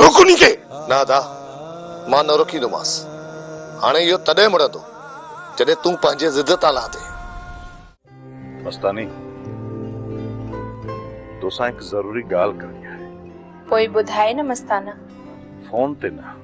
روڪ انهي کي! نه ادا، مان نه روڪيندومانس. هاڻي اهو تڏهن مڙندو، جڏهن تون پنهنجي ضد تان لهندين. مستاني، توسان هڪ ضروري ڳالهه ڪرڻي آهي. پوء ٻڌاء نه مستانه. فون تي نه.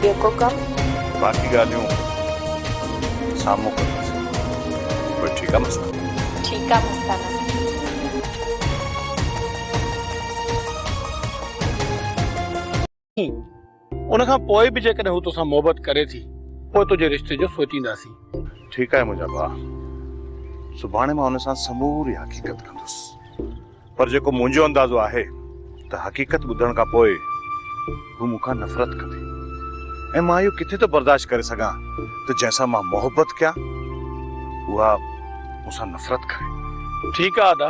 ٻيو ڪو ڪم؟ باقي ڳالهيون سامهون ڪنداسين. پوء ٺيڪ آ مستانه. ٺيڪ آ مستانه. ان کان پوء به جيڪڏهن هو توسان محبت ڪري ٿي پوء تنهنجي رشتي جو سوچينداسين. ٺيڪ آهي منهنجا ڀاء. سڀاڻي مان هن سان سموري حقيقت ڪندس. پر جيڪو منهنجو اندازو آهي ته حقيقت ٻڌڻ کان پوء هو مون کان نفرت ڪندي ۽ مان اهو ڪٿي ٿو برداشت ڪري سگهان ته جنهن سان مان محبت ڪيان اها مون سان نفرت ڪري. ٺيڪ آ ادا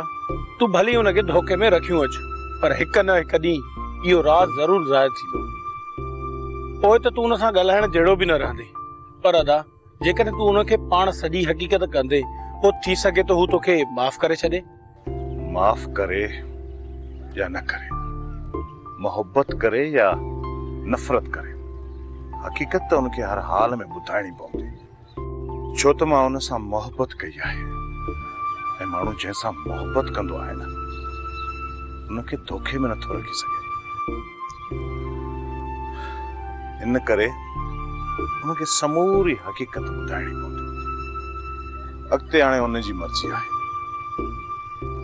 تون ڀلي ان کي ڌوڪي ۾ رکيون اچ پر هڪ نه هڪ ڏينهن اهو راز ضرور ظاهر ٿيندو پوء ته تون ان سان ڳالهائڻ جهڙو به نه رهندي پر ادا جيڪڏهن تون ان کي پاڻ سڄي حقيقت ڪندي پوء ٿي سگهي ٿو هو توکي معاف ڪري ڇڏي. معاف ڪري يا نه ڪري، محبت ڪري يا نفرت ڪري، حقيقت ته ان کي هر حال ۾ ٻڌائڻي پوندي، ڇو ته مان ان سان محبت ڪئي آهي ۽ ماڻهو جنهن سان محبت ڪندو آهي نه، ان کي دوکي ۾ نٿو رکي سگهي. ان ڪري ان کي سموري حقيقت ٻڌائڻي پوندي. اڳتي هاڻي ان جي مرضي آهي.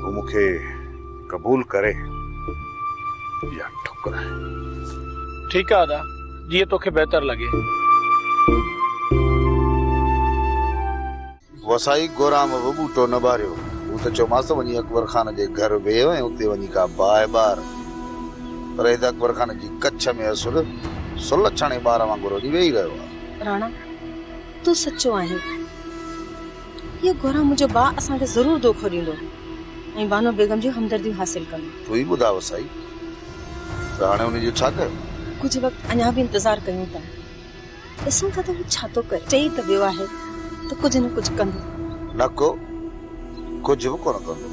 هو مون کي قبول ڪري يا ٺڪرائي. ٺيڪ آهي ادا، جيئن توکي بهتر لڳي. وسائي گورام به ٻوٽو نه ٻاريو. مون ته چيومانس وڃي اڪبر خان جي گهر ويهه ۽ اتي وڃي ڪا باهه ٻار. پر هي ته اڪبر خان جي ڪڇ ۾ اسل سلهه ڇڻي ٻار وانگر وڃي ويهي رهيو آهي. راڻا، تون سچو آهين. هيء گورام منهنجو ڀاء اسان کي ضرور دوکو ڏيندو ۽ بانو بيگم جون همدرديون حاصل ڪندو. تون ئي ٻڌاء وسائي، ته هاڻي ان جو ڇا ڪيو؟ ڪجهه وقت اڃا به انتظار ڪيون ٿا. ڏسون ٿا ته هو ڇا ٿو ڪري. چئي ته ويو آهي ته ڪجهه نه ڪجهه ڪندو. نڪو ڪجهه به ڪونه ڪندو.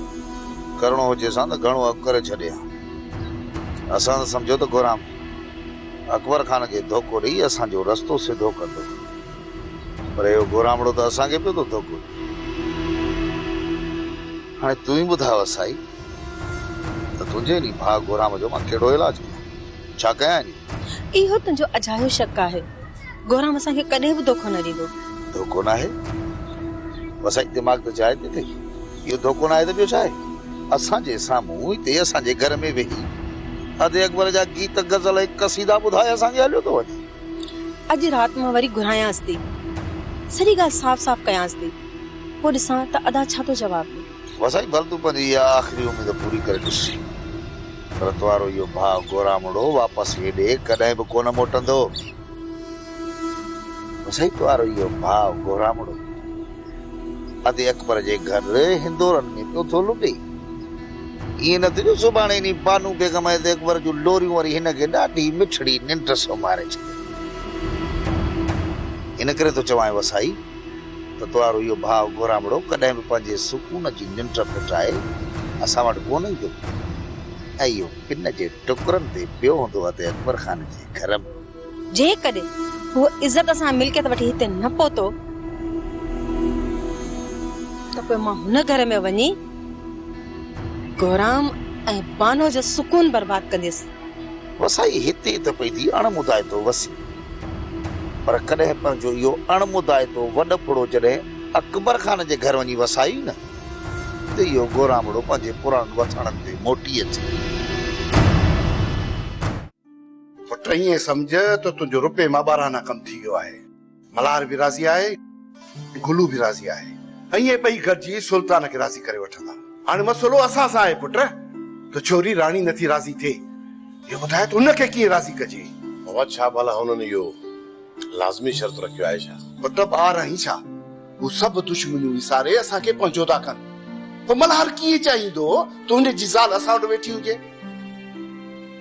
ڪرڻو هجيسان ته گهڻو اڳ ڪري ڇڏي ها. اسان ته سمجهيو ته گهرام اڪبر خان کي ڌوڪو ڏئي اسان جو رستو سڌو ڪندو. پر اهو گهرامڙو ته اسان کي پيو ٿو ڌوڪو ڏئي. هاڻي تون ئي ٻڌاء وسائي ته تنهنجي انهي ڀاء گهرام جو مان ڪهڙو علاج ڪيان. ڇا ڪيائين؟ اهو تنهنجو اجايو شڪ آهي. گورام اسان کي ڪڏهن به ڌوڪو نه ڏيندو. ڌوڪو ناهي؟ وسائي دماغ ته چاهي ٿي تي اهو ڌوڪو ناهي ته ٻيو ڇا آهي؟ اسان جي سامهون هتي اسان جي گهر ۾ ويهي ادي اڪبر جا گيت، غزل ۽ قصيدا ٻڌائي اسان کي هليو ٿو وڃي. اڄ رات مان وري گهرايانس ٿي. سڄي ڳالهه صاف صاف ڪيانس ٿي. پوء ڏسان ته ادا ڇا ٿو جواب ڏي. واه سائين ڀل تون پنهنجي اها آخري اميد پوري ڪري ڏس. ڀرت وارو اهو ڀاء گورامڙو واپس هيڏي ڪڏهن به ڪونه موٽندو. واه سائين تو وارو اهو ڀاء گورامڙو ادي اڪبر جي گهر هندورن ۾ پيو ٿو لٽي. ائين نه ٿيندو سڀاڻي انهي بانو بيگم ادي اڪبر جون لوريون وري هن کي ڏاڍي مٺڙي ننڊ سمهاري ڇڏينديون. ان ڪري ٿو چوانء واه سائين. ته توهارو اهو ڀاء گهرامڙو ڪڏهن به پنهنجي سڪون جي ننڊ ڦٽائي اسان وٽ ڪونه ايندو ۽ اهو پن جي ٽڪرن تي پيو هوندو هتي اڪبر خان جي گهر ۾. جيڪڏهن هو عزت سان ملڪيت وٺي هتي نه پهتو ته پوء مان هن گهر ۾ وڃي گهرام ۽ بانو جو سڪون برباد ڪنديس. وسائي هتي ته پئي ٿي اڻ مدائتو وسي، پر ڪڏهن پنهنجو اهو اڻ مدائتو وڏڦڙو جڏهن اڪبر خان جي گهر وڃي وسائي نه ته اهو گورامڙو پنهنجي پراڻن وٿاڻن تي موٽي اچي. پٽ ائين سمجهه ته تنهنجو روپيه مان ٻارهانا ڪم ٿي ويو آهي. ملهار به راضي آهي ۽ گلو به راضي آهي. ائين ٻئي گڏجي سلطان کي راضي ڪري وٺندا. هاڻي مسئلو اسان سان آهي پٽ ته ڇوري راڻي نٿي راضي ٿئي. هي ٻڌاء ته هن کي ڪيئن راضي ڪجي؟ بابا ڇا ڀلا هنن اهو لازمي شرط رکيو آهي ڇا؟ پٽ ٻار آهين ڇا؟ هو سڀ دشمنيون وساري اسان کي پنهنجو ٿا ڪن. پوء ملهار ڪيئن چاهيندو ته هن جي زال اسان وٽ ويٺي هجي؟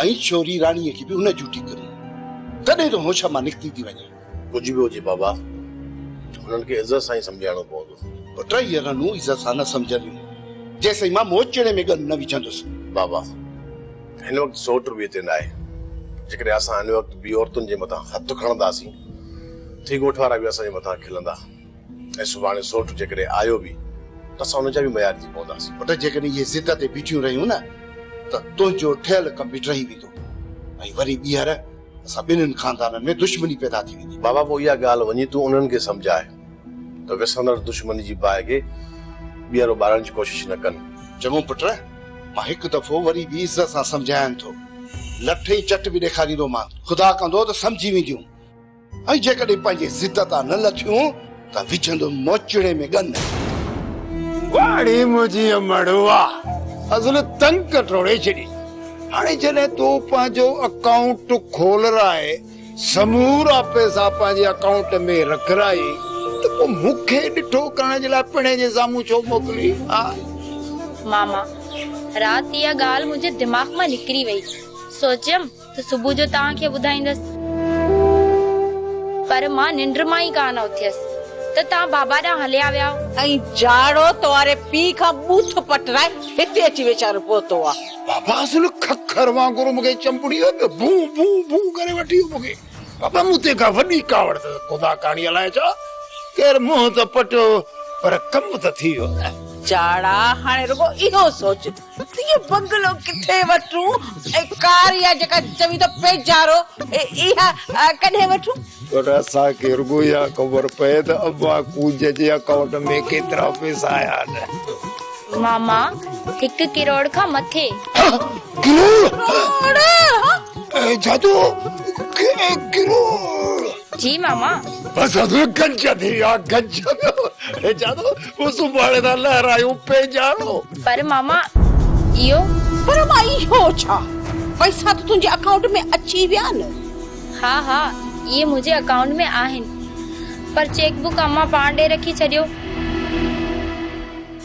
ائين ڇوري راڻيء کي به ان جوٽي ڪري، تڏهن ته هوش مان نڪتي ٿي وڃي. ڪجهه به هجي بابا، هنن کي عزت سان ئي سمجهائڻو پوندو. پوء ٽيئي رنون عزت سان نه سمجهنديون، جيسين مان موچڙي ۾ ڳن نه وجهندس. بابا، هن وقت سوٽ رويي تي ناهي. جيڪڏهن اسان هن وقت ٻي عورتن جي مٿان هٿ کڻنداسين، ٿي ڳوٺ وارا به اسان جي مٿان کلندا. ۽ سڀاڻي سوٽ جيڪڏهن آيو به ته اسان ان جا به ميار ٿي پونداسين. پٽ جيڪڏهن اهي ضد تي بيٺيون رهيون نه ته تنهنجو ٺهيل ڪم به ٽهي ويندو ۽ وري ٻيهر اسان ٻنهين خاندانن ۾ دشمني پيدا ٿي ويندي. بابا پوء اها ڳالهه وڃي تون انهن کي سمجهاء ته وسندڙ دشمني جي باهه کي ٻيهر اٻارڻ جي ڪوشش نه ڪن. چڱو پٽ، مان هڪ دفعو وري به عزت سان سمجهاين ٿو. لٺ ۽ چٽ به ڏيکاريندومان. خدا ڪندو ته سمجهي وينديون. ۽ جيڪڏهن پنهنجي ضد تان نه لٿيون ته وجهندم موچڙي ۾ ڳن. واڙي منهنجي امڙوا ازل تنگ ڪٽوڙي ڇڏي. هاڻي جڏهن تو پنهنجو اڪائونٽ کولرائي سمورا پئسا پنهنجي اڪائونٽ ۾ رکرائي ته پوء مون کي ڏٺو ڪرڻ جي لاء پڻهي جي سامهون ڇو موڪلين ها؟ ماما، رات اها ڳالهه منهنجي دماغ مان نڪري وئي. سوچيم ته صبح جو توهان کي ٻڌائيندس. پر مان ننڊ مان ئي ڪانه اٿيس ته توهان بابا ڏانهن هليا وياو. ۽ جاڙو توهاري پيء کان ٻوٿ پٽرائي هتي اچي ويچارو پهتو آ. بابا اصل ککر وانگر مون کي چنبڙي ويو پيو ڀون ڀون ڀون ڪري وٺي ويو مون کي. بابا مون تي ڪا وڏي ڪاوڙ اٿس خدا ڪاڻي الائي ڇا ڪير منهن ته پٽيو پر ڪم ته ٿي ويو. جاڙا هاڻي رڳو اهو سوچ اهو بنگلو ڪٿي وٺون ۽ ڪار يا جيڪا چوين ٿا پيچارو اها ڪڏهن وٺون؟ پر اسان کي رڳو اها خبر پئي ته ابا ڪوڄ جي اڪائونٽ ۾ ڪيترا پئسا آيا آهن. ماما هڪ ڪروڙ کان مٿي. ڪروڙ! ڪروڙ! جادو ڪروڙ! جي ماما. بس گج ٿي ويا گج. جادو. ڪو سڀاڻي ٿا لهرايون پيڄاڻو. پر ماما اهو. پر ماء اهو ڇا؟ پئسا ته تنهنجي اڪائونٽ ۾ اچي ويا نه. ها ها اهي منهنجي اڪائونٽ ۾ آهن پر چيڪ بوڪ امان پاڻ ڏي رکي ڇڏيو.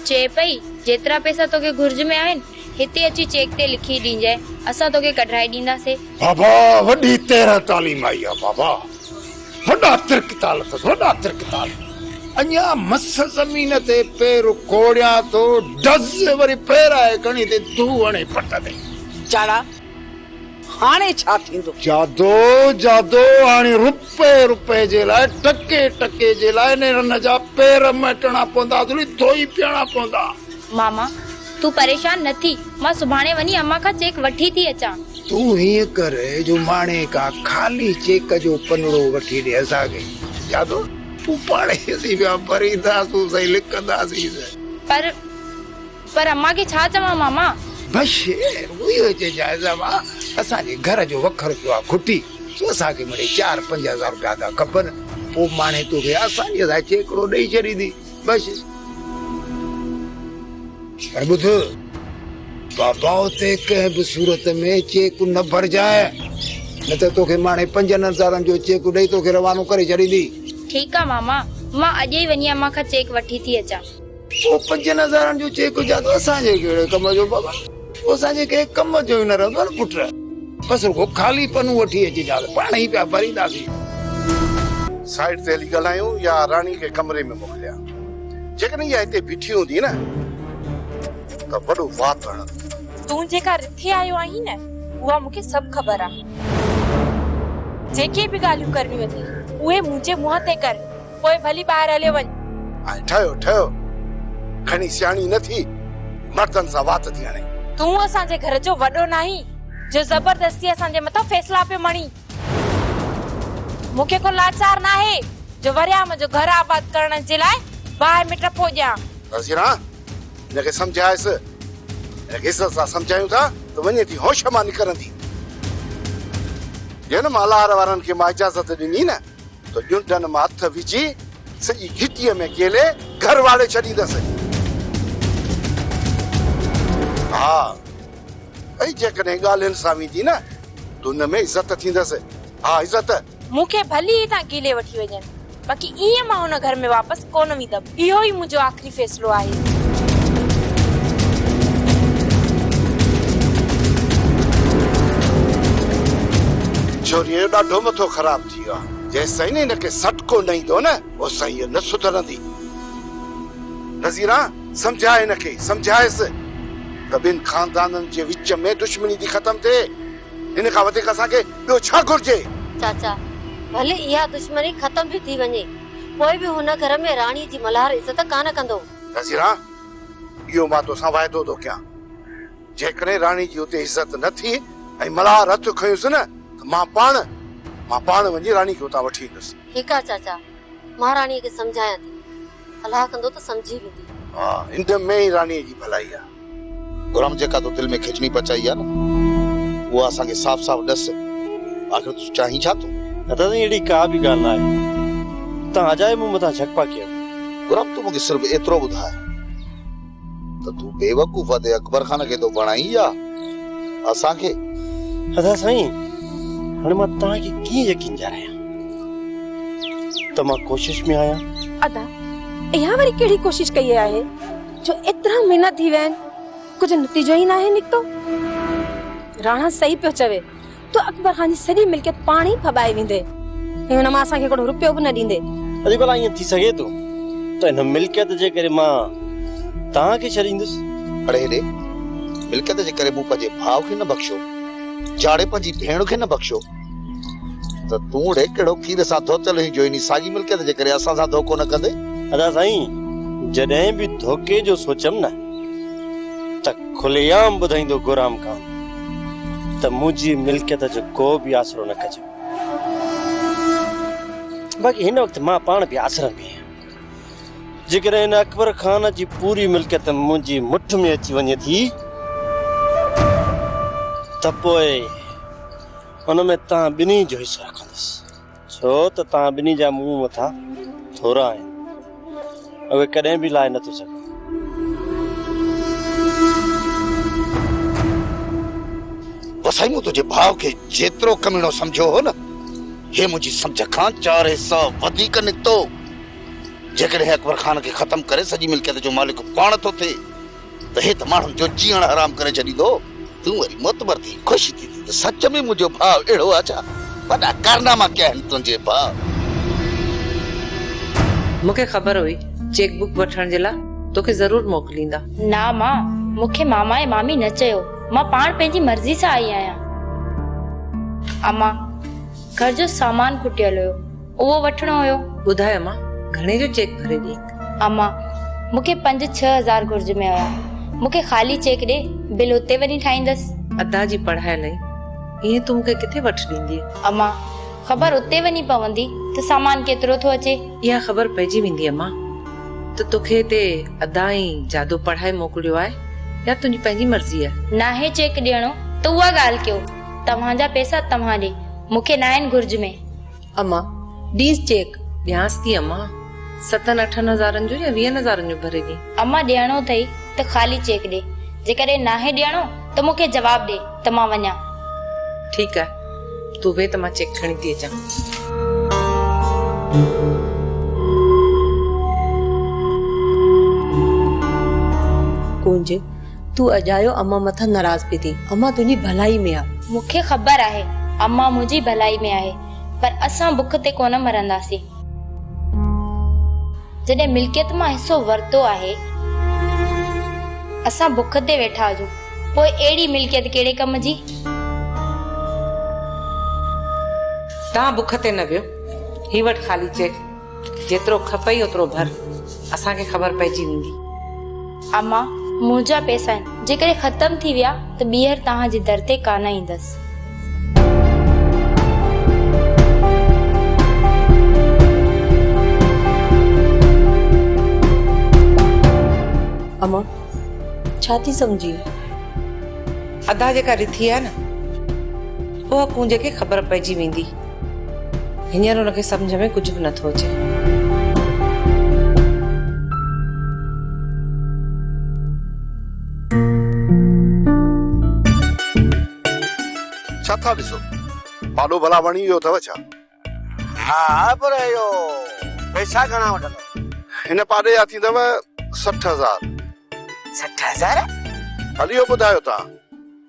چئي پئي جيترا پئسا توکي گهرج ۾ آهن هتي اچي چيڪ تي لکي ڏينجانء اسان توکي ڪڍرائي ڏينداسين. بابا وڏي تيرهن تعليم آئي آ بابا. هوڏا ترڪ ٿا لفظ هوڏا ترڪ ٿا اڃا مس زمين تي پير ڪوڙيان ٿو ڊز وري پيرائي کڻي تي ڌو هڻي پٽ تي جاڙا هاڻي ڇا ٿيندو. جادو جادو هاڻي رپئي رپئي جي لاء ٽڪي ٽڪي جي لاء نيرن جا پير مهٽڻا پوندا ڌوئي پيئڻا پوندا. ماما، تون پريشان نه ٿي، مان سڀاڻي وڃي امان کان چيڪ وٺي ٿي اچان. تون هيئن ڪر جو ماڻي کان خالي چيڪ جو پنڙو وٺي ڏي، اسان کي يا ٿو. پوء پاڻ ئي اسين پيا ڀرينداسون سائين، لڪنداسين نه. پر، پر امان کي ڇا چوان ماما؟ بش، اهو چئجانس امان، اسان جي گهر جو وکر پيو آ کٽي، سو اسان کي مڙئي چار پنج هزار روپيا ٿا کپن، پوء ماڻي توکي آسانيء سان چيڪڙو ڏئي ڇڏيندي. بس پر ٻڌ بابا اتي ڪنهن به صورت ۾ چيڪ نه ڀرجانء نه ته توکي ماڻي پنجن هزارن جو چيڪ ڏئي توکي روانو ڪري ڇڏيندي. ٺيڪ آ ماما مان اڄ ئي وڃي امان کان چيڪ وٺي ٿي اچان. پوء پنجن هزارن جو چيڪ جادو اسان جي ڪهڙي ڪم جو بابا. تو اسان جي ڪنهن ڪم جو ئي نه رهندو آهي نه پٽ. بس رڳو خالي پنون وٺي اچ جا ته پاڻ ئي پيا ڀرينداسين. سائيڊ تي هلي ڳالهايون يا راڻي کي ڪمري ۾ موڪليان. جيڪڏهن اها هتي بيٺي هوندي نه ته وڏو وات هڻندي. تون جيڪا رٿي آيو آهين نه اها مون کي سڀ خبر آهي. جيڪي به ڳالهيون ڪرڻيون اٿئي اهي منهنجي منهن تي ڪر پوء ڀلي ٻاهر هليو وڃ. ۽ ٺهيو ٺهيو کڻي سياڻي نه ٿي مردن سان وات ٿي هڻي. تون اسان جي گهر جو وڏو ناهين جو زبردستي اسان جي مٿان فيصلا پيو مڙين. مون کي ڪو لاچار ناهي جو وريان منهنجو گهر آباد ڪرڻ جي لاء باهه ۾ ٽپو ڏيان. وزيرا هن کي سمجهايس. هن کي عزت سان سمجهايون ٿا ته وڃي ٿي هوش مان نڪرندي. جنهن مالهار وارن کي مان اجازت ڏني نه. ته ڄنڊن مان هٿ وجهي سڄي گهٽيء ۾ ڪيلي گهر واڙي ڇڏيندس. ها ۽ جيڪڏهن ڳالهين سان ويندي نه ته ان ۾ عزت ٿيندس. ها عزت. مون کي ڀلي هتان ڪيلي وٺي وڃن باقي ايئن مان هن گهر ۾ واپس. ڪونه ويندم. اهو ئي منهنجو آخري فيصلو آهي. ڇوريء جو ڏاڍو مٿو خراب ٿي ويو آهي. جيستائين هن کي سٽ ڪونه ايندو نه، اوستائين هيء نه سڌرندي. نذيرا، سمجهاء هن کي، سمجهائيس ته ٻن خاندانن جي وچ ۾ دشمني ٿي ختم ٿئي. هن کان وڌيڪ اسان کي ٻيو ڇا گهرجي؟ چاچا، ڀلي اها دشمني ختم به ٿي وڃي. پوء به هن گهر ۾ راڻي جي ملهار عزت ڪانه ڪندو. نذيرا! اهو مان توسان واعدو ٿو ڪيان. جيڪڏهن راڻي جي اتي عزت نه ٿي ۽ ملهار هٿ کنيس نه ته مان پاڻ، مان پاڻ وڃي راڻي کي اتان وٺي ايندس. ٺيڪ آهي چاچا، مان راڻيء کي سمجهايان ٿي. صلاح ڪندو ته سمجهي ويندي. ها، ان ۾ ئي راڻيء جي ڀلائي آهي. گھرام جيڪا تو دل ۾ کجڻي پچائي آ نه اها اسان کي صاف صاف ڏس آخر تون چاهين ڇا ٿو؟ دادا سائين اهڙي ڪا به ڳالهه ناهي توهان اجائي مون مٿان جھڪپا ڪيو. گھرام تون مون کي صرف ايترو ٻڌاء ته تون بيوقوف ادي اڪبر خان کي ٿو بڻائين يا اسان کي؟ دادا سائين هاڻي مان توهان کي ڪيئن يقين ڏياريان ته مان ڪوشش ۾ آهيان. ادا اها وري ڪهڙي ڪوشش ڪئي آهي؟ جو ايترا مھينا ٿي ويا آھن ڪجھ نتيجو ئي ناھي نڪتو. راڻا صحيح پيو چوي تو اڪبر خان جي سڄي ملڪيت پاڻ ئي ڦٻائي ويندي ۽ ان مان اسان کي ھڪڙو روپيو به نه ڏيندي. اڙي ڀلا ائين ٿي سگھي ٿو ته ان ملڪيت جي ڪري مان توھان کي ڇڏيندس. اڙي ھيڏي ملڪيت جي ڪري مون پنھنجي ڀاء کي نه بخشيو، جھاڙي پنھنجي ڀيڻ کي نه بخشيو. ته تون اڙي ڪهڙو کير سان ڌوتل هئين جو انهي ساڳي ملڪيت جي ڪري اسان سان ڌوڪو نه ڪندي؟ ادا سائين جڏهن به ڌوڪي جو سوچيم نه ته کلي عام ٻڌائيندو گورام خان ته منهنجي ملڪيت جو ڪو به آسرو نه ڪجو. باقي هن وقت مان پاڻ به آسرن ۾ آهيان. جيڪڏهن هن اڪبر خان جي پوري ملڪيت منهنجي مٺ ۾ اچي وڃي ٿي ته پوء ان ۾ توهان ٻنهي جو حصو رکندس، ڇو ته توهان ٻنهي جا مون مٿان ٿورا آهن، اهي ڪڏهن به لاهي نٿو سگهان. وسائي مون تنهنجي ڀاء کي جيترو ڪميڻو سمجهيو هو نه، هي منهنجي سمجهه کان چار حصا وڌيڪ نڪتو. جيڪڏهن اڪبر خان کي ختم ڪري سڄي ملڪيت جو مالڪ پاڻ ٿو ٿئي، ته هي ته ماڻهن جو جيئڻ حرام ڪري ڇڏيندو، تون وري معتبر ٿي خوش ٿيندين ته سچ ۾ منهنجو ڀاء اهڙو آهي ڇا؟ وڏا ڪارناما ڪيا آهن تنهنجي ڀاء. مون کي خبر هئي چيڪ بڪ وٺڻ جي لاء توکي ضرور موڪليندا. نا مان، مون کي ماما ۽ مامي نه چيو، مان پاڻ پنهنجي مرضي سان آئي آهيان. امان، گهر جو سامان کٽيل هيو. اهو وٺڻو هيو. ٻڌاء امان گهڻي جو چيڪ ڀري ڏينگ. امان مون کي پنج ڇهه هزار گهرج ۾ هيا مون کي خالي چيڪ ڏي بل اتي وڃي ٺاهيندس. ادا جي پڙهائي لئي ائين تون مون کي ڪٿي وٺ ڏيندي. امان خبر اتي وڃي پوندي ته سامان ڪيترو ٿو اچي. اها خبر پئجي ويندي امان ته توکي هتي ادا ۽ جادو پڙهائي موڪليو آهي يا تنهنجي پنهنجي مرضي آهي. ناهي چيڪ ڏيڻو ته اها ڳالهه ڪيو توهان جا پئسا توهان ڏي مون کي ناهن گهرج ۾. اما، ڏيس چيڪ. ڏيانس ٿي اما. ستن اٺن هزارن جو يا ويهن هزارن جو ڀري ڏي. اما، ڏيڻو اٿئي ته خالي چيڪ ڏي. جيڪڏهن ناهي ڏيڻو ته مون کي جواب ڏي ته مان وڃان. ٺيڪ آهي. تون ويهه ته مان چيڪ کڻي ٿي اچان. ڪونج، تون اجايو امان مٿان ناراض پئي ٿين. امان تنهنجي ڀلائي ۾ آ. مون کي خبر آهي امان منهنجي ڀلائي ۾ آهي پر اسان بک تي ڪونه مرنداسين. جڏهن ملڪيت مان حصو ورتو آهي اسان بک تي ويٺا هجون پوء اهڙي ملڪيت ڪهڙي ڪم جي. توهان بک تي نه ويهو هي وٺ خالي چيڪ. جيترو کپئي اوترو ڀر، اسان کي خبر پئجي ويندي. اما، منهنجا پئسا آهن، جيڪڏهن ختم ٿي ويا ته ٻيهر توهان جي در تي ڪانه ايندس. اما، ڇا ٿي سمجهين؟ ادا جيڪا رٿي آهي نه، اها ڪونج کي خبر پئجي ويندي. هينئر هن کي سمجهه ۾ ڪجهه به نه ٿو اچي. ڇا ٿا ڏسو؟ پاڏو ڀلا وڻي ويو اٿو ڇا؟ ها پر اهو پئسا گهڻا وٺندو؟ هن پاڏي جا ٿيندو سٺ هزار. سٺ هزار؟ هليو ٻڌايو تان.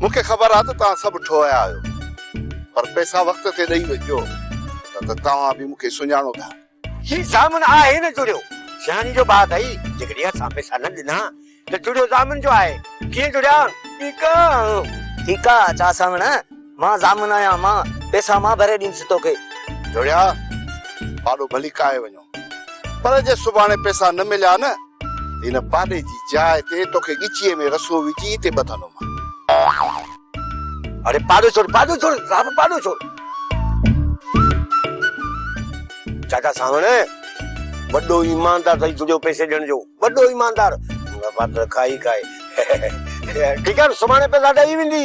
مون کي خبر آ ته توهان سڀ ٺوهيا آهيو پر پيسا وقت تي ڏئي وجهجو نه ته توهان به مون کي سڃاڻو ٿا. هي ضامن آهي نه جڙيو سياڻي جو بات اهي جيڪڏهن اسان پيسا نه ڏنا ته جڙيو ضامن جو آهي ڪيئن جڙيان ٺيڪ آ. ٺيڪ آ چا ساوڻ مان ضامن آهيان مان پيسا مان ڀري ڏيندس توکي. جڙيا پاڏو ڀلي ڪاهي وڃو. پر جي سڀاڻي پئسا نه مليا نه ته هن پاڏي جي جاء تي توکي ڳچيء ۾ رسو وجهي هتي ٻڌندومان. اڙي پاڏو ڇوڙ، پاڏو ڇوڙ، صاحب پاڏو ڇوڙ. چاچا سانوڻ وڏو ايماندار ٿئي جڙيو پئسي ڏيڻ جو، وڏو ايماندار. مون کان پاڏر کائي کائي. ٺيڪ آهي، سڀاڻي پئسا ڏئي ويندي.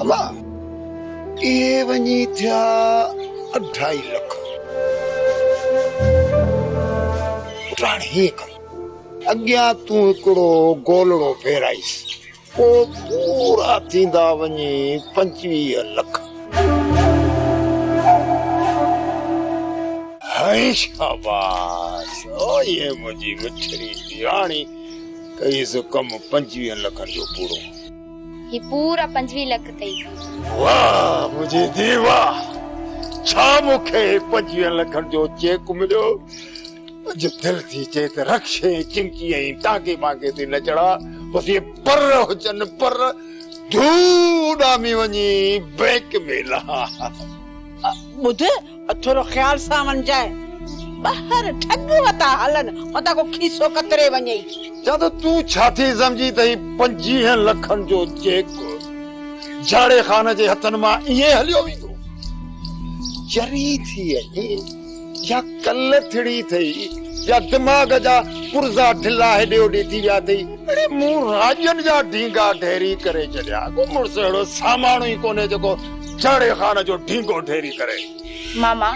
الا! اهي وڃي ٿيا اڍائي لک. پٽاڻي هيئن ڪر، اڳيان تون هڪڙو گولڙو ڦيرائيس، پوء پورا ٿيندا وڃي پنجويهه لک. هيء شاباس! هيء منهنجي مٺڙي ڌيراڻي ڪيس ڪم پنجويهن لکن جو پورو. هي پورا پنجويهه لک اٿئي. واه منهنجي ڌي واه ڇا مون کي پنجويهن لکن جو چيڪ مليو اڄ دل ٿي چئي ته رڪشي چمچي ۽ ٽانگي مانگي تي نه چڙها بس اهي پر هجن پر ڌو اڏامي وڃي بئنڪ ۾ لها ٻڌ اٿورو خيال سان وڃجانء، ٻاهر ٺڳ وتا هلن، متان ڪو کيسو ڪتري وڃئي. جادو تون ڇا ٿي سمجهين ته هي پنجيهن لکن جو چيڪ جهاڙي خان جي هٿن مان ائين هليو ويندو؟ چري ٿي اهي يا ڪل ٿڙي ٿئي يا دماغ جا پرزا ڍلا هيڏي هوڏي ٿي ويا اٿئي. اڙي مون راڄن جا ڍينگا ڍيري ڪري ڇڏيا، ڪو مڙس اهڙو ساماڻو ئي ڪونهي جيڪو جهڙي خان جو ڍينگو ڍيري ڪري. ماما،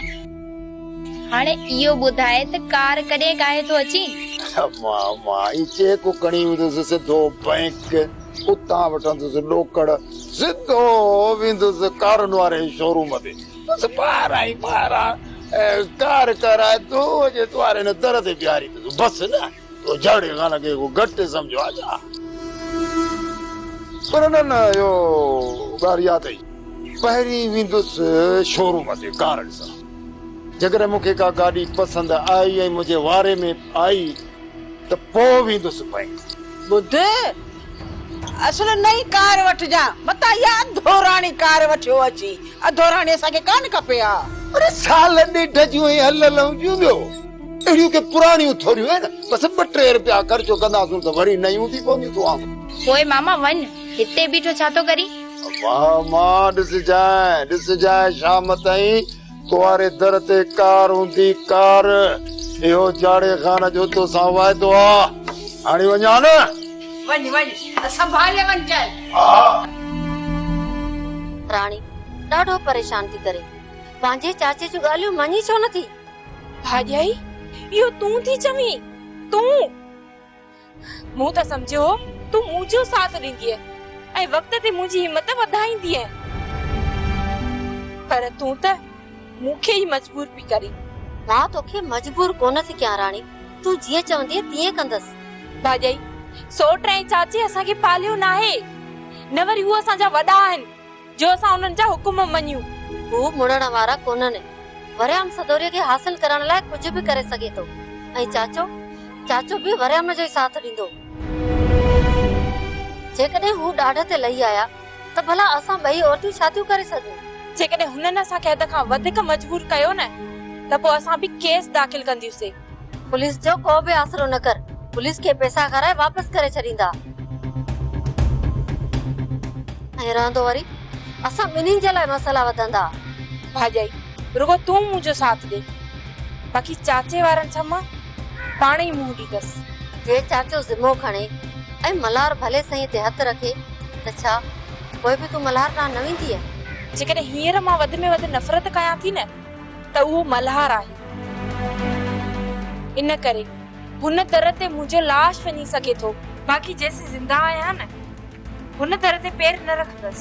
هاڻي اهو ٻڌاء ته ڪار ڪڏهن ڪاهي ٿو اچين؟ ماما، هي چيڪ کڻي ويندس سڌو بئنڪ، اتان وٺندس ڏوڪڙ، سڌو ويندس ڪارن واري شوروم تي، بس ٻاهران ئي ٻاهران ڪار ڪرائي دو جي دواري نه در تي بيهاريندس، بس نه! تو جهڙي خان کي ڪو گهٽ ٿي سمجهيو آ ڇا؟ پر نه نه اهو ڳالهه اها اٿئي. پهرين ويندس شوروم تي ڪار ڏسڻ. جيڪڏهن مون کي ڪا گاڏي پسند آئي ۽ منهنجي واري ۾ آئي ته پوء ويندس بئنڪ. ٻڌ! اصل نئين ڪار وٺجان متان اها اڌوراڻي ڪار وٺيو اچي اڌوراڻي اسان کي ڪانه کپي ها. اڙي سال ڏيڍ جون ائين هليلون جون ٻيو اهڙيون ڪي پراڻيون ٿوريون آهن بس ٻه ٽي رپيا خرچ ڪنداسون ته وري نيون ٿي پونديون تون آ. پوء ماما وڃ هتي بيٺو ڇا ٿو ڪرين. امان مان ڏسجانء ڏسجانء شام تائين توهاري در تي ڪار هوندي ڪار. اهو جاڙي خان جو توسان واعدو آ. هاڻي وڃ ها نه. وڃ وڃ سنڀالي وڃ چانهه. ها. راڻي ڏاڍو پريشان ٿي ڪري. پنهنجي چاچي جون ڳالهيون مڃي ڇو نه ٿي. ڀاڄائي اهو تون ٿي چوين. تون. مون ته سمجهيو هو تون مون جو ساٿ ڏيندينء ۽ وقت تي منهنجي همت وڌائيندينء. پر تون ته مون کي ئي مجبور پئي ڪرين. مان توکي مجبور ڪونه ٿي ڪيان راڻي، تون جيئن چوندينء تيئن ڪندس. ڀاڄائي، سوٽ ۽ چاچي اسان کي پاليو ناهي، نه وري هو اسان جا وڏا آهن. جو اسان انهن جا حڪم مڃيون. هو مڙڻ وارا ڪونهن. وريام سدوريء کي حاصل ڪرڻ لاء ڪجهه به ڪري سگهي ٿو. ۽ چاچو؟ چاچو به وريام جو ئي ساٿ ڏيندو. جيڪڏهن هو ڏاڍ تي لهي آيا ته ڀلا اسان ٻئي عورتون ڇا ٿيون ڪري سگهون؟ جيڪڏهن هنن اسان کي حد کان وڌيڪ مجبور ڪيو نه ته پوء اسان به ڪيس داخل ڪنديون سي. پوليس جو ڪو به آسرو نه ڪر، پوليس کي پئسا کارائي واپس ڪري ڇڏيندا. ائين رهندو وري اسان ٻنهين جي لاء مسئلا وڌندا. ڀاڄائي، رڳو تون منهنجو ساٿ ڏي، باقي چاچي وارن سان مان پاڻ ئي منهن ڏيندس. جي چاچو ذمو کڻي ۽ ملهار ڀلي سهي تي هٿ رکي ته ڇا پوء به تون ملهار ڏانهن نه ويندينء؟ جيڪڏهن هينئر مان وڌ ۾ وڌ نفرت ڪيان ٿي نه. ته اهو ملهار آهي. ان ڪري هن در تي منهنجو لاش وڃي سگهي ٿو. باقي جيسين زنده آهيان نه هن در تي پير نه رکندس.